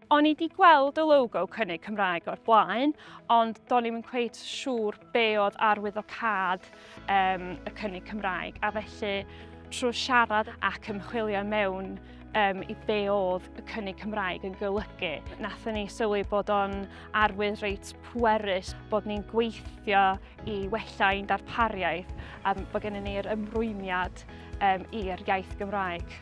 O'n i di gweld y logo cynnig Cymraeg o'r blaen, ond do'n i'n cweit siŵr be oedd arwyddocad um, y cynnig Cymraeg, a felly trwy siarad ac ymchwilio mewn um, i be oedd y cynnig Cymraeg yn golygu. Nathon ni sylwi bod o'n arwydd reit pwerus bod ni'n gweithio i wella ein darpariaeth a bod gennym ni'r ymrwymiad um, i'r iaith Gymraeg.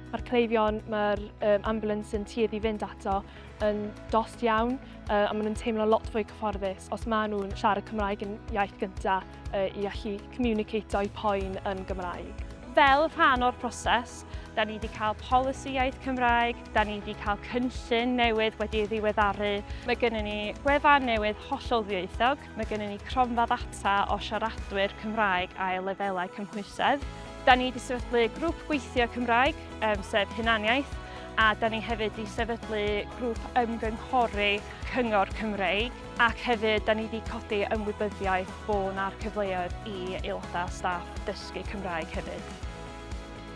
Mae'r cleifion, mae'r um, ambulance yn tuedd i fynd ato yn dost iawn uh, a maen nhw'n teimlo lot fwy cyfforddus os maen nhw'n siarad Cymraeg yn iaith gyntaf uh, i allu communicato i poen yn Gymraeg. Fel rhan o'r proses, da ni wedi cael polisi iaith Cymraeg, da ni wedi cael cynllun newydd wedi ei ddiweddaru. Mae gennym ni gwefan newydd hollol ddieithog, Mae gennym ni cronfa ddata o siaradwyr Cymraeg ail lefelau cymhwysedd. Da ni wedi sefydlu grŵp gweithio Cymraeg, um, sef hunaniaeth, a da ni hefyd wedi sefydlu grŵp ymgynghori Cyngor Cymreig ac hefyd da ni wedi codi ymwybyddiaeth bod yna'r cyfleoedd i aelodau staff dysgu Cymraeg hefyd.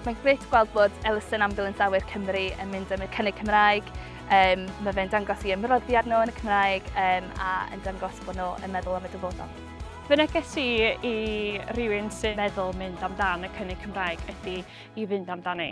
Mae'n gret gweld bod Elusen Ambulance Awyr Cymru yn mynd yn y cynnig Cymraeg. Um, mae fe'n dangos i ymroddiad nhw yn y Cymraeg um, a yn dangos bod nhw yn meddwl am y dyfodol. Fy neges i i rywun sy'n meddwl mynd amdan y cynnig Cymraeg ydy i fynd amdani.